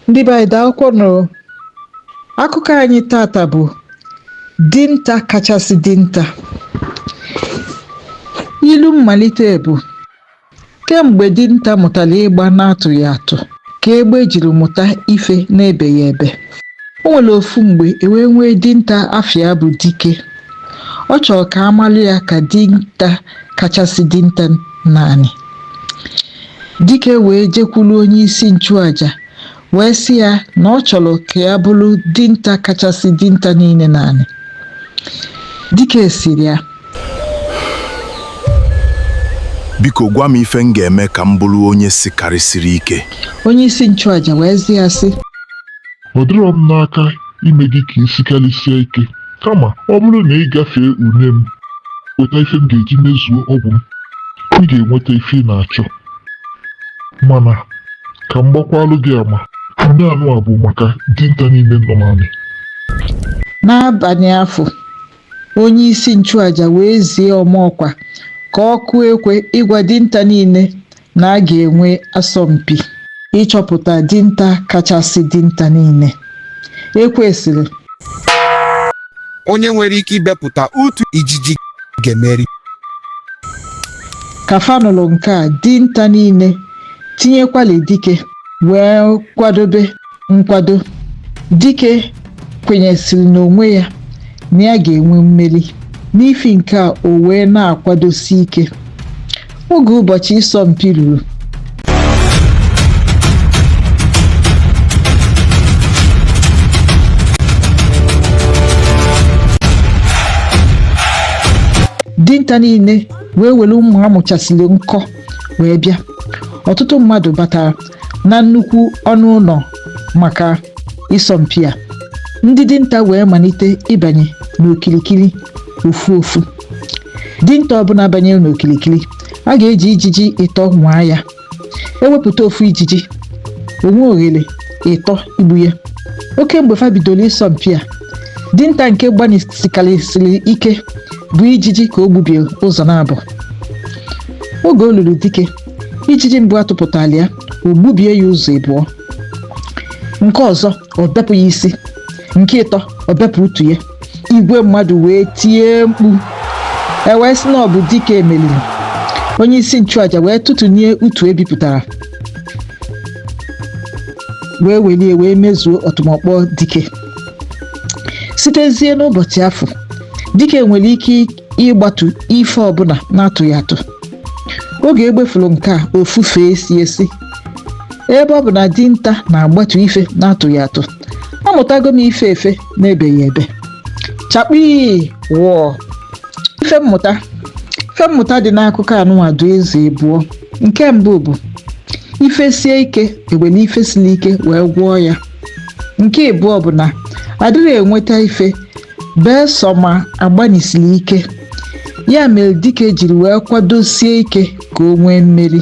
ndị be anyị daalụkwa nụ akụkọ anyị tata bụ dinta kachasị dinta ilu mmalite bụ Kemgbe dinta mụtara ịgba n'atụghị atụ ka egbe jiri mụta ife n'ebeghị ebe. O nwere ofu mgbe e wee nwee dinta afa ya bụ Dike. Ọ chọrọ ka a malụ ya ka dinta kachasị dinta n'anị. Dike wee jekwuru onye isi nchụaja wee sị ya na ọ chọrọ ka ya bụrụ dinta kachasị dinta niile n'anị dike sịrị ya biko gwa m ife m ga-eme ka m bụrụ onye sikarịsịrị ike onye isi nchụaja wee zi ya sị ọ dịrọ m n'aka ime gị ka i sikarịsịa ike kama ọ bụrụ na ị gafee ule m weta ife m ga-eji mezuo ọgwụ m ị ga-enweta ife ị na-achọ mana ka m gbakwalụ gị ama ndị anụ a bụ maka dinta niile nọ n'anị N'abalị afụ, onye isi nchụaja wee zie ọma ọkwa ka ọ kụọ ekwe ịgwa dinta niile na a ga-enwe asọmpi ịchọpụta dinta kachasị dinta niile. ekwe sịrị onye nwere ike ibepụta otu ijiji ga-emeri ka fa nụlụ nke a dinta niile tinyekwalụ dike wee kwadobe nkwado dike kwenyesiri n'onwe ya na ya ga-enwe mmeri n'ifi nke a o wee na-akwadosi ike oge ụbọchị ịsọ mpi ruru dinta niile wee were mma a mụchasịrị nkọ wee bịa ọtụtụ mmadụ batara na nnukwu ọnụ ụlọ maka ịsọmpi a ndị dinta wee malite ịbanye n'okirikiri ofu ofu dinta ọbụla banyere n'okirikiri a ga-eji ijiji ịtọ nwaa ya e wepụta ofu ijiji o nwee oghere ịtọ igbu ya oke mgbe fa bidoro ịsọmpi a dinta nke gbanisikarịsịrị ike bụ ijiji ka o gbubie ụzọ naabọ oge o lulu dike ijiji mbụ a tụpụtara ya o gbubie ya ụzọ ịbụọ nke ọzọ ọ bepụ ya isi nke ịtọ ọ bepụ utu ya igwe mmadụ wee tie mkpu e wee sị na ọ bụ dike meriri onye isi nchụaja wee tụtụnie utu ebipụtara wee welie wee mezuo ọtụmọkpọ dike sitezie n'ụbọchị afụ dike nwere ike ịgbatu ife ọbụla na-atụghị atụ oge egbe fụrụ nke a ofufe esie sị ebe ọ bụ na dinta na-agbatu ife na-atụghị atụ amụtago m ife efe na-ebeghị ebe chakpii wọọ ife mmụta ife mmụta dị n'akụkọ anụnwa dụ ụzọ abụọ nke mbụ bụ ife sie ike e were ife siri ike wee gwọọ ya nke ịbụọ bụ na adịghị enweta ife Beesọ ma a gbanyesiri ike, ya mere dike jiri wee kwadosie ike ka o nwee mmeri.